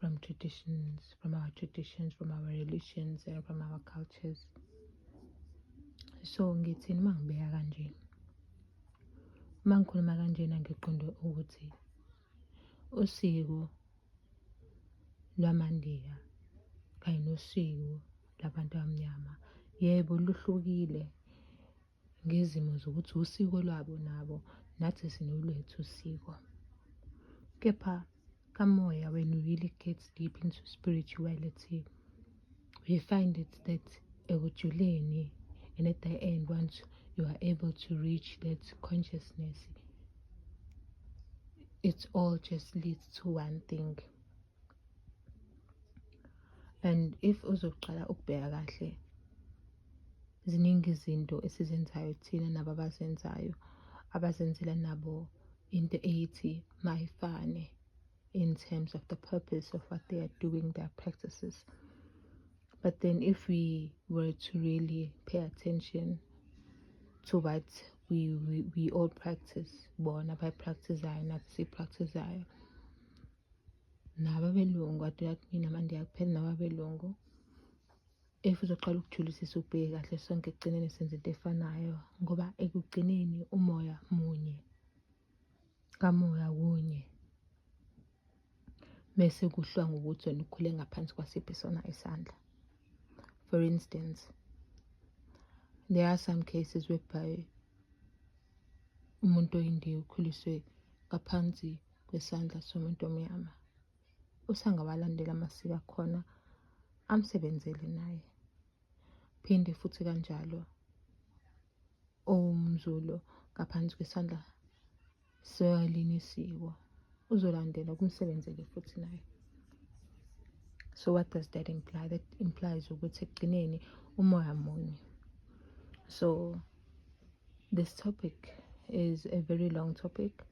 from traditions, from our traditions, from our religions and from our cultures. So ngithini uma ngibeka kanje? Uma ngikhuluma kanjena ngiqonde ukuthi usiko lwamaNdiya kanye nosiko labantu abamnyama yebo luhlukile ngezimo zokuthi usiko lwabo nabo nathi sinolwethu usiko kepha kamoya when you really get deep into spirituality we find it that ekujuleni and at the end once you are able to reach that consciousness it all just leads to one thing and if uzoqala ukubheka kahle Ziningi izinto esizenzayo thina nabo abazenzayo abazenzela nabo into eyithi mayifane in terms of the purpose of what they are doing their practices but then if we were to really pay attention to what we, we, we all practice bona bayipractizayo nathi siyipractizayo nababelungu aduyakumina manje akupheli nababelungu if uzoqala ukujulisisa ubheke kahle sonke ekugcineni senze into efanayo ngoba ekugcineni umoya munye kamoya kunye mese kuhlwa ngokuthi wena ukhule ngaphansi kwasiphi sona isandla for instance there are some cases whereby umuntu oyindiya ukhuliswe ngaphansi kwesandla somuntu omnyama usangawalandela amasiko akhona amsebenzele naye. Phinde futhi kanjalo owumZulu ngaphansi kwesandla selinye isiko uzolandela kumsebenzele futhi naye. So what does that imply? That implies ukuthi ekugcineni umoya munye. So this topic is a very long topic.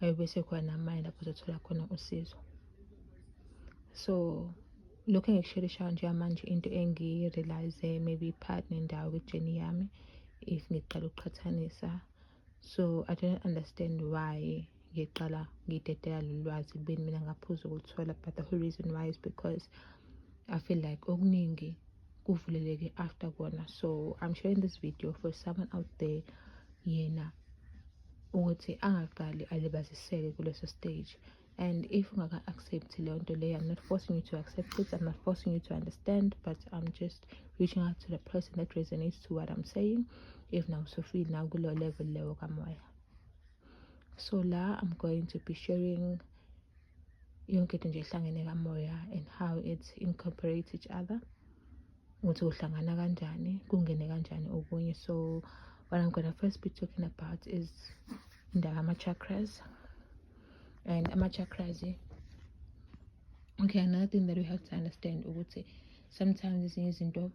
ayobe sekhona amanye lapho uzothola khona usizo so lokhu engikusheleyshayo njengamanje into engiyi-realize maybe i-part nendawo kwi-journey yami if ngiqala ukuqhathanisa so i don't understand why ngiqala ngidedela lolu lwazi kubeni mina ngaphuza ukuluthola but the whole reason why is because i feel like okuningi kuvuleleke after kona so i'm sharing this video for someone out there yena ukuthi angaqali alibaziseke kuleso stage and if ungaka-accept leyo nto leyo i'm not forcing you to accept it i'm not forcing you to understand but i'm just reaching out to the person that resonates to what i'm saying if now so feel now kuleyo level leyo kamoya so la i'm going to be sharing yonke into nje ihlangene kamoya and how it incorporates each other ukuthi uhlangana kanjani kungene kanjani okunye so what i'm gonna first be talking about is indaba ama-chakras and ama-chakras okay another thing that we have to understand ukuthi sometimes ezinye izinto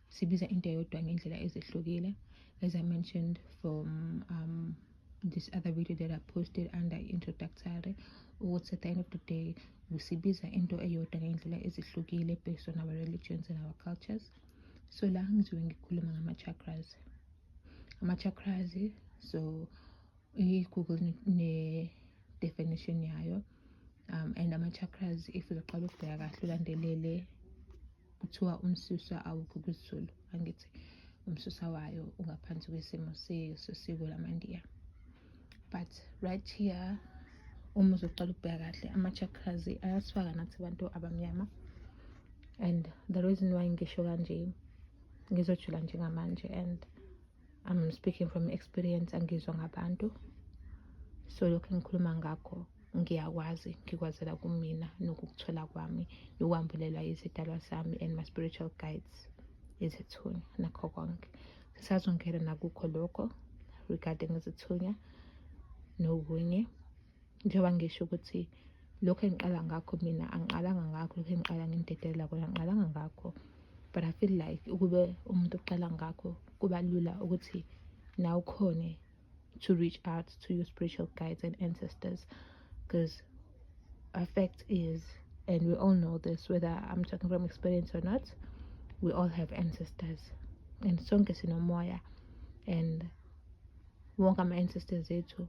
sibiza into eyodwa ngendlela ezehlukile as i mentioned from um, this other video that i posted under introductory ukuthi at the end of the day sibiza into eyodwa ngey'ndlela ezihlukile based on our religions and our cultures so la ngizobe ngikhuluma ngama-chakras ama-chakras so i-google ne-definition yayo um and ama-chakras if uzoqala ukubheka kahle ulandelele kuthiwa umsusa awukho kwizulu angithi umsusa wayo ungaphansi kwesimo sesiko lamandiya but right here uma uzoqala ukubheka kahle ama-chakras ayasifaka nathi abantu abamnyama and the reason why ngisho kanje ngizojula njengamanje and I'm speaking from experience angizwa ngabantu so lokhu engikhuluma ngakho ngiyakwazi ngikwazela kumina nokukuthola kwami nokwambulelwa izidalwa sami and my spiritual guides izithunywa nakho konke sisazongena nakukho lokho regarding izithunywa nokunye njengoba ngisho ukuthi lokhu engiqala ngakho mina angiqalanga ngakho lokhu engiqala ngimdedelela kona angiqalanga ngakho but i feel like ukube umuntu uqala ngakho kuba lula ukuthi nawe ukhone to reach out to your spiritual guides and ancestors because our fact is and we all know this whether i'm talking from experience or not we all have ancestors and sonke sinomoya and wonke ama-ancestors ethu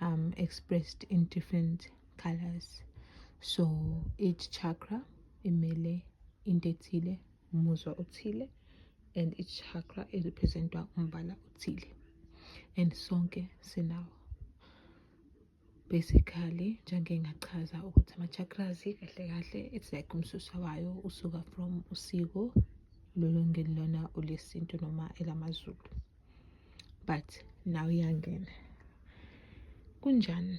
um, expressed in different colors so each chakra imele into ethile umuzwa othile and each chakra irepresentwa umbala othile and sonke sinawo basically njengengachaza ukuthi ama-chakras kahle kahle it's like umsusa wayo usuka from usiko lolongelilona olesintu noma elamazulu but now iyangena kunjani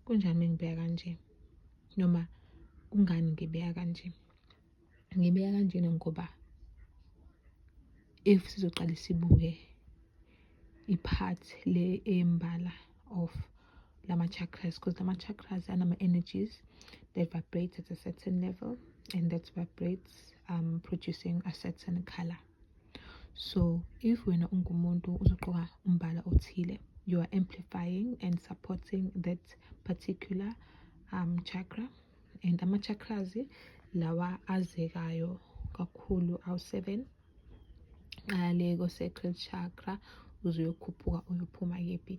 kunjani mengibeka kanje noma kungani ngibeka kanje ngibeka kanjena ngoba if sizoqala sibuke i-part le embala of lama chakras because lama chakras anama energies that vibrate at a certain level and that vibrates um producing a certain color so if wena ungumuntu uzoqoka umbala othile you are amplifying and supporting that particular um, chakra and ama-chakras lawa azekayo kakhulu awu-seven qale ko-sacral chakra uzoyokhuphuka uyophuma kephi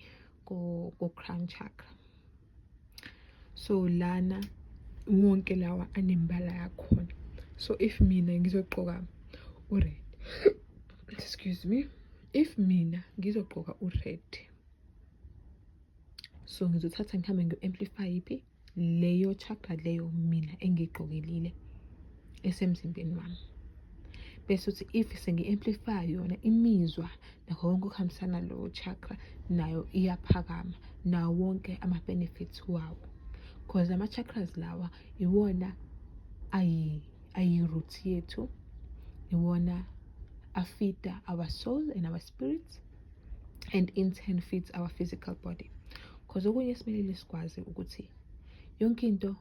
ko-crown chakra so lana wonke lawa anembala yakhona so if mina ngizogqoka ured excuse me if mina ngizogqoka ured so ngizothatha ngihambe ngiyo-amplify iphi leyo chakra leyo mina engiyigqokelile esemzimbeni wami bese uthi if sengi-amplify yona imizwa nakho konke okuhambisana lowo chakra nayo iyaphakama nawo wonke ama-benefits wawo because la ma-chakras lawa iwona ayi-root yethu iwona afida our soul and our spirit and in turn feeds our physical body because okunye esimelile sikwazi ukuthi yonke into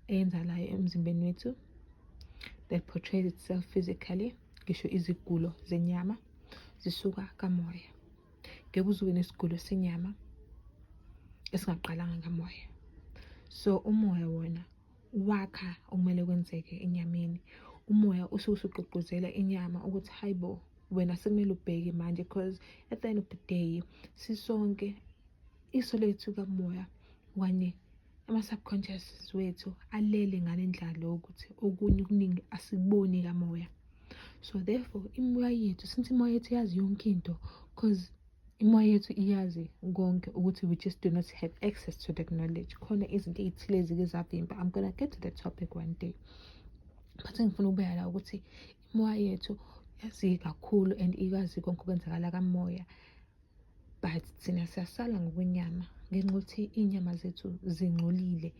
eyenzalayo emzimbeni wethu that portrays itself physically ngisho izigulo zenyama zisuka kamoya ngeke uzube nesigulo senyama esingaqalanga ngamoya so umoya wona wakha okumele kwenzeke enyameni umoya usuke usugqugquzela inyama ukuthi hayi bo wena sekumele ubheke manje because at the end of the day sisonke iso lethu kamoya kanye ama-subconscious wethu alele ngale ndlala yokuthi okunye okuningi asikuboni kamoya so therefore imoya yethu since imoya yethu yazi yonke into because imoya yethu iyazi konke ukuthi we just do not have access to that knowledge khona izinto ey'thile ezike zavimba i'm gonna get to that topic one day but engifuna ukubeka la ukuthi imoya yethu yazi kakhulu and ikwazi konke okwenzakala kamoya but thina siyasala ngokwenyama ngenxa yokuthi iy'nyama zethu zingcolile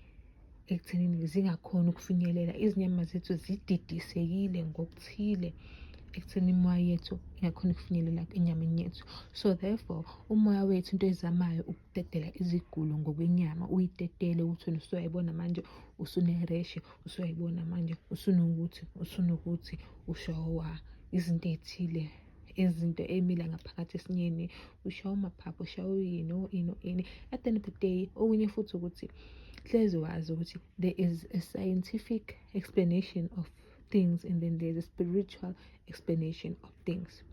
ekuthenini zingakhoni ukufinyelela izinyama zethu zididisekile ngokuthile ekutheni imoya yethu ingakhona ukufinyelela enyameni yethu so therefore umoya wethu into ezamayo ukudedela izigulo ngokwenyama uyidedele ukuthi wena usuyayibona manje usunereshe usuyayibona manje usunokuthi usunokuthi ushowa izinto ey'thile izinto emile ngaphakathi esinyeni ushawa umaphaphu ushawa uyini oyini oyini at the end of the day okunye futhi ukuthi hlezi wazi ukuthi there is a scientific explanation of things and then there's a spiritual explanation of things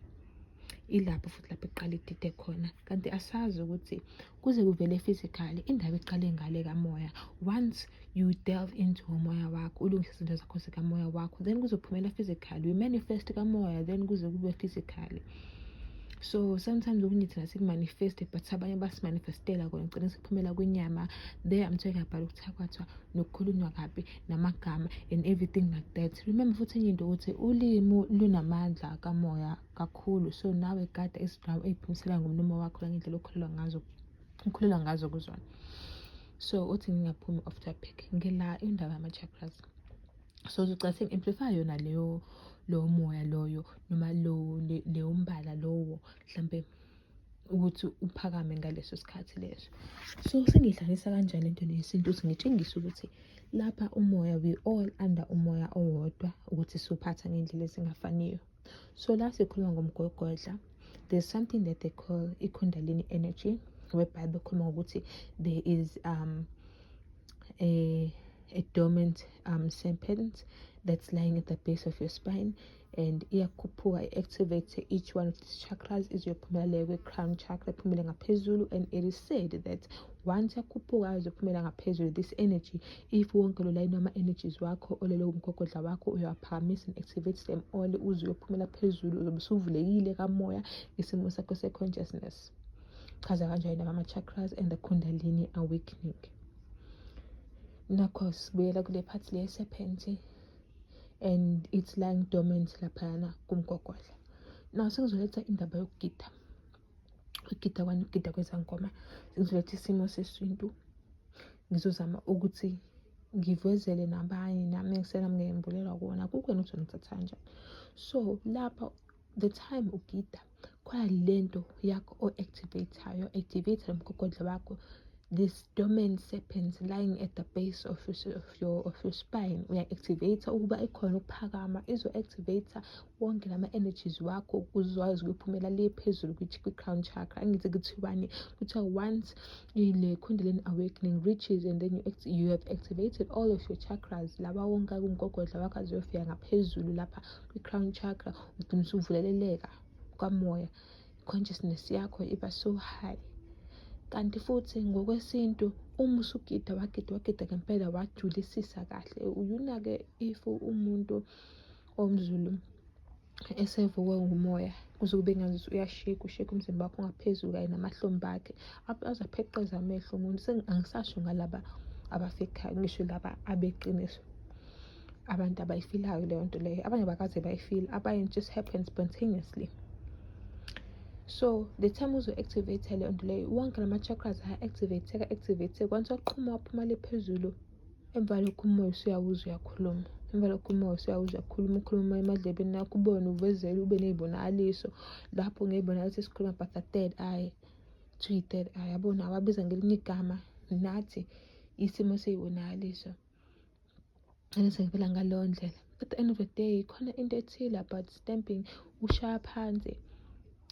ilapho futhi lapho iqala idide khona kanti asazi ukuthi kuze kuvele physically indaba iqale ngale kamoya once you delve into umoya wakho ulungise izinto zakho zikamoya wakho then kuzophumela physically we manifest kamoya then kuze kube physically so sometimes okunye thina sikumanifeste but abanye basimanifestela kona ngicela siphumela kwinyama there i'm talking about ukuthakwatha nokukhulunywa kabi namagama and everything like that remember futhi enye into ukuthi ulimu lunamandla kamoya kakhulu so nawe gada izindawo eyiphimisela ngomlomo wakho nangendlela okhulelwa ngazo ukhulelwa ngazo kuzona so uthi ngingaphumi off topic ngila indaba yama-chakras so zogcina sengi-amplify yona leyo lowo moya loyo noma lowo leyo mbala lowo mhlampe ukuthi uphakame ngaleso sikhathi leso so sengiyidlalisa kanjani lento yesintu ukuthi ngitshengise ukuthi lapha umoya we all under umoya owodwa ukuthi siwuphatha ngendlela ezingafaniyo so la sikhuluma ngomgogodla there's something that they call i-kundalini energy whereby bekhuluma ngokuthi there is um a a dormant um, serpent that's lying at the base of your spine and iyakhuphuka i-activate each one of these chakras izoyophumela leyo kwe-crown chakra iphumele ngaphezulu and it is said that once yakhuphuka izophumela ngaphezulu this energy if wonke lo layini wama-energies wakho olele umgogodla wakho uyawaphakamisa and activate them all uze uyophumela phezulu uzobe usuvulekile kamoya isimo sakho se-consciousness chaza kanjani nama-chakras and the kundalini awakening nakho sibuyela kule phathi le serpent and it's lying dormant laphayana kumgogodla now sekuzoletha indaba yokugida ukugida kwani ukugida kwezangoma ngizoletha isimo sesintu ngizozama ukuthi ngivezele nabanye nami engisela ngiyembulelwa kuwona kukwena ukuthi ngithatha kanjani so lapha the time ugida khona le nto yakho o-activateayo activate lo mgogodla wakho this domain serpent lying at the base of, of, your, of your spine uya-activate ukuba ikhona ukuphakama izo-activate wonke lama energies wakho uzwayo zokuphumela le phezulu kwi crown chakra angithi kuthiwani kuthiwa once ile kundalini awakening reaches and then you, act, you have activated all of your chakras laba wonke kumgogodla wakho aziyofika ngaphezulu lapha kwi-crown chakra ugcina usuvuleleleka kwamoya consciousness yakho iba so high kanti futhi ngokwesintu uma usugida wagida wagida ngempela wajulisisa kahle uyunake if umuntu omzulu esevukwe ngumoya kuze kube ngazuthi uyasheka usheka umzimba wakho ungaphezulu kanye namahlombe akhe aze apheqeza amehlo umuntu angisasho ngalaba abafekayo ngisho laba abeqiniso abantu abayifilayo leyo nto leyo abanye bakaze bayifile abanye just happen spontaneously so the time uzo-activate leyo nto leyo wonke lama-chakras aya-activate-eka activate-eka once waqhuma waphuma le phezulu Emva lokho umoya usuyawuza uyakhuluma emva lokho umoya usuyawuza uyakhuluma ukhuluma emadlebeni nakho ubone uvezele ube ney'bonakaliso lapho ngey'bonakaliso esikhuluma but the third eye to i-third eye yabona awabiza ngelinye igama nathi isimo sey'bonakaliso and sengivela ngaleyo ndlela at the end of the day khona into ethile about stamping ushaya phansi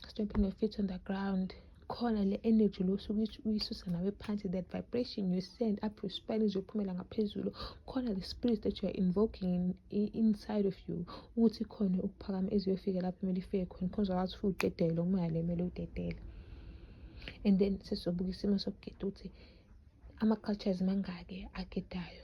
stomping your feet on the ground khona le energy lo usuke uyisusa nawe phansi that vibration you send up your spine izophumela ngaphezulu khona the spirit that you are invoking in, in, inside of you ukuthi khona ukuphakama eziyofika lapho kumele ifike khona khona uzokwazi futhi udedele lokumoya le kumele udedele and then sesizobuka isimo sokugeda ukuthi ama-cultures mangaki agedayo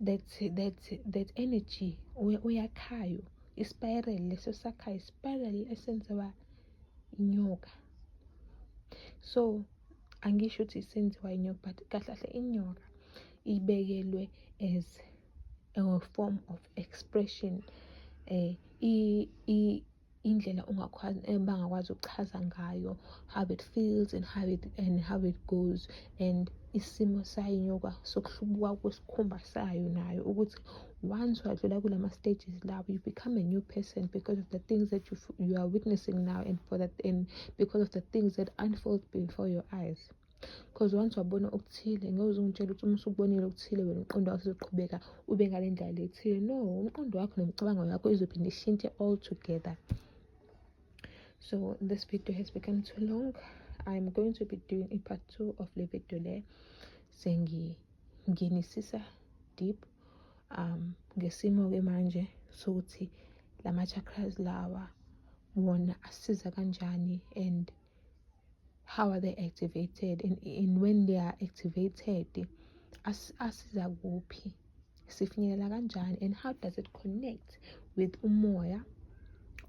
that that that energy oyakhayo ispiral leso sakhayo ispiral esenziwa inyoka so angisho ukuthi senziwa inyoka but kahle kahle inyoka ibekelwe as a form of expression eh i indlela eh, bangakwazi ukuchaza ngayo how it feels and how it, and how it goes and isimo sayo inyoka sokuhlubuka kwesikhumba sayo nayo ukuthi once wadlula kula ma-stages lawo you become a new person because of the things that you, you are witnessing now and, for that, and because of the things that unfold before your eyes because once wabona okuthile ngeke uze ungitshele ukuthi uma usubonile okuthile wena umqondo wakho uzoqhubeka ube ngale ndlela le ethile no umqondo wakho nemicabango yakho izophinde ishintshe all together so this video has become too long i'm going to be doing a part two of le video le sengingenisisa deep um ngesimo-ke manje sokuthi la ma-chakras lawa wona asiza kanjani and how are they activated and, and when they are activated as, asiza kuphi sifinyelela kanjani and how does it connect with umoya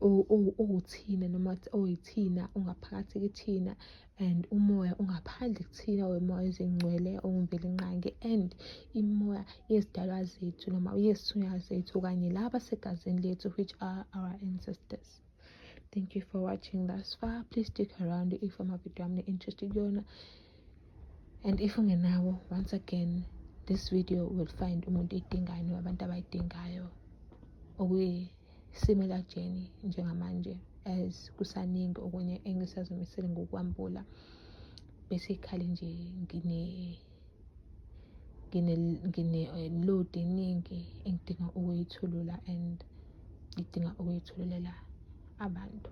owuthina noma oyithina ongaphakathi kithina and umoya ongaphandle kuthina wemoya ezingcwele ongivele nqange and imoya yezidalwa zethu noma yezithunywa zethu kanye laba segazini lethu which are our ancestors thank you for watching thus far please stick around if amavidiyo ami ne-interest kuyona and if ungenawo once again this video will find umuntu eyidingayo noma abantu abayidingayo okuyisimilar journey njengamanje as kusaningi okunye engisazimisele ngokwambula basically nje ngine ngine-load eh, eningi engidinga ukuyithulula and ngidinga ukuyithululela abantu